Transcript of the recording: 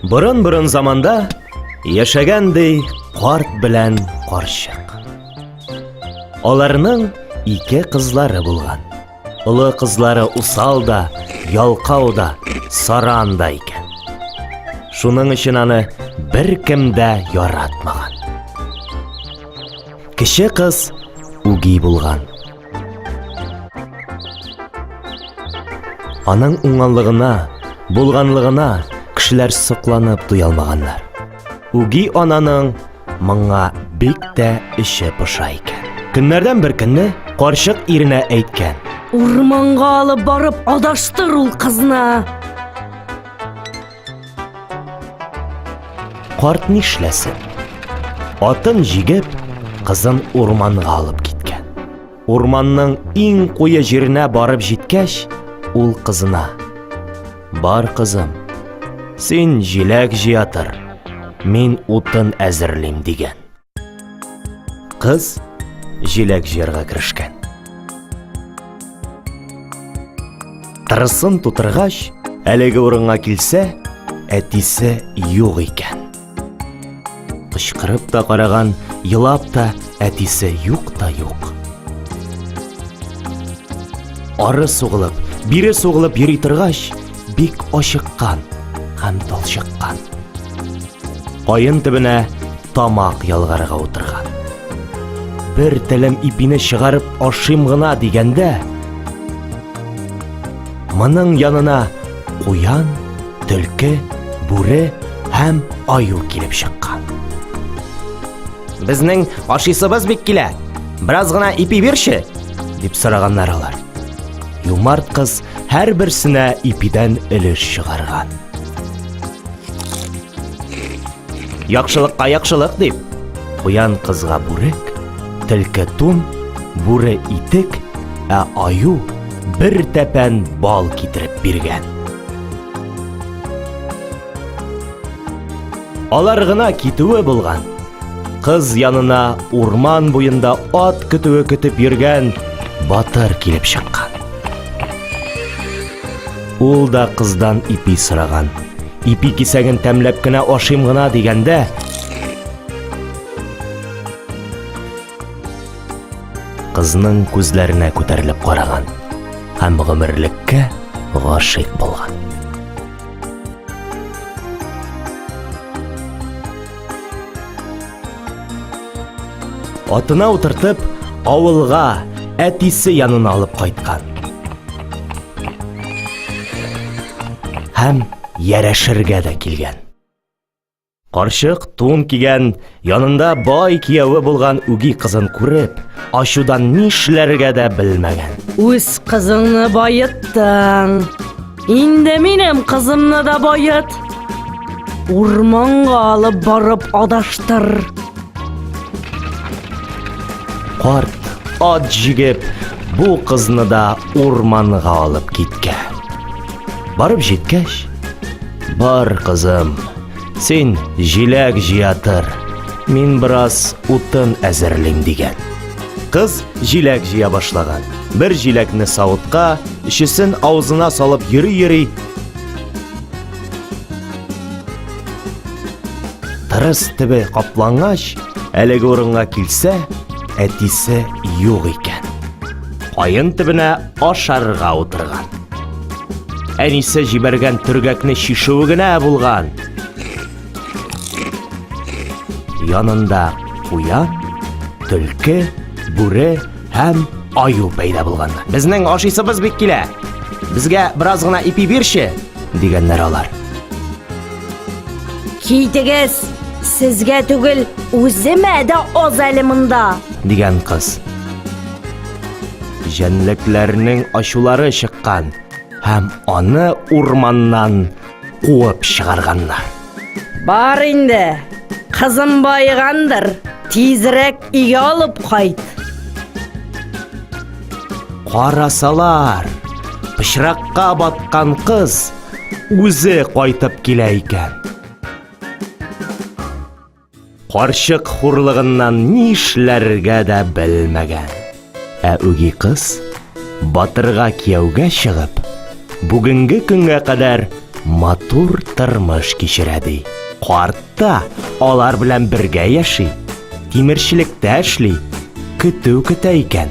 Борын-борын заманда яшәгән ди карт белән карчык. Аларның ике кызлары булган. Олы кызлары усал да, ялкау да, саран да икән. Шуның өчен аны бер кем дә яратмаган. Кече кыз үги булган. Аның уңганлыгына, булганлыгына кешеләр сокланып туя алмаганнар. Үги ананың моңа бик тә эче поша икән. Көннәрдән бер көнне карчык иренә әйткән. Урманга алып барып адаштыр ул кызны. Карт нишләсен? Атын җигеп, кызын урманга алып киткән. Урманның иң куе җиренә барып җиткәч, ул кызына: "Бар, кызым, син җиләк җыятыр, мин утын әзерлим", дигән. Кыз җиләк җыярга керешкән. Тырысын тутыргач, әлеге урынга килсә, әтисе юк икән. Кычкырып та караган, елап та әтисе юк та юк. Ары сугылып, бире сугылып йөри торгач, бик ачыккан һәм талчыккан. Каен төбенә тамак ялгарга утырган. Бер телем ипине чыгарып ашыйм гына дигәндә, моның янына куян, төлке, бүре һәм аю килеп чыккан. Безнең ашыйсыбыз бик килә. Бераз гына ипи бирче, дип сораганнар алар. Юмарт кыз һәрберсенә ипидән өлеш чыгарган. Яхшылыкка яхшылык дип, куян кызга бүрек, тилке тун, бүре итек, ә аю бер тәпән бал китереп биргән. Алар гына китүе булган. Кыз янына урман буенда ат көтүе көтеп йөргән батыр килеп чыккан. Ул да кыздан ипи сораган. Ипи кисәген тәмләп кенә ашыйм гына дигәндә, кызның күзләренә күтәрелеп караган һәм гомерлеккә гашыйк булган. Атына утыртып, авылга, әтисе янына алып кайткан. Һәм ярәшергә дә килгән. Карчык тун кигән, янында бай кияве булган үги кызын күреп, ачудан нишләргә дә белмәгән. Үз кызыңны баеттың. Инде минем кызымны да бает. Урманга алып барып адаштыр. Карт ат җигеп, бу кызны да урманга алып киткән. Барып җиткәч, бар кызым, Син җиләк җыя тор, мин бераз утын әзерлим, дигән. Кыз җиләк җыя башлаган. Бер җиләкне савытка, өчесен авызына салып йөри-йөри, тырыс төбе каплангач, әлеге урынга килсә, әтисе юк икән. Каен төбенә ашарга утырган. Әнисе җибәргән төргәкне чишүе генә булган. Янында куян, төлке, бүре һәм аю пәйда булган. Безнең ашыйсыбыз бик килә. Безгә бераз гына ипи бирче, дигәннәр алар. Китегез, сезгә түгел, үземә дә аз әле монда. Дигән кыз. Җәнлекләрнең ачулары чыккан һәм аны урманнан куып чыгарганнар. Бар инде, кызым байыгандыр, тизрәк өйгә алып кайт. Карасалар, пычракка баткан кыз үзе кайтып килә икән. Карчык хурлыгыннан ни эшләргә дә белмәгән. Ә үги кыз батырга кияүгә чыгып, бүгенге көнгә кадәр матур тормыш кичерә ди. Карт та алар белән бергә яши, тимерчелектә эшли, көтү көтә икән.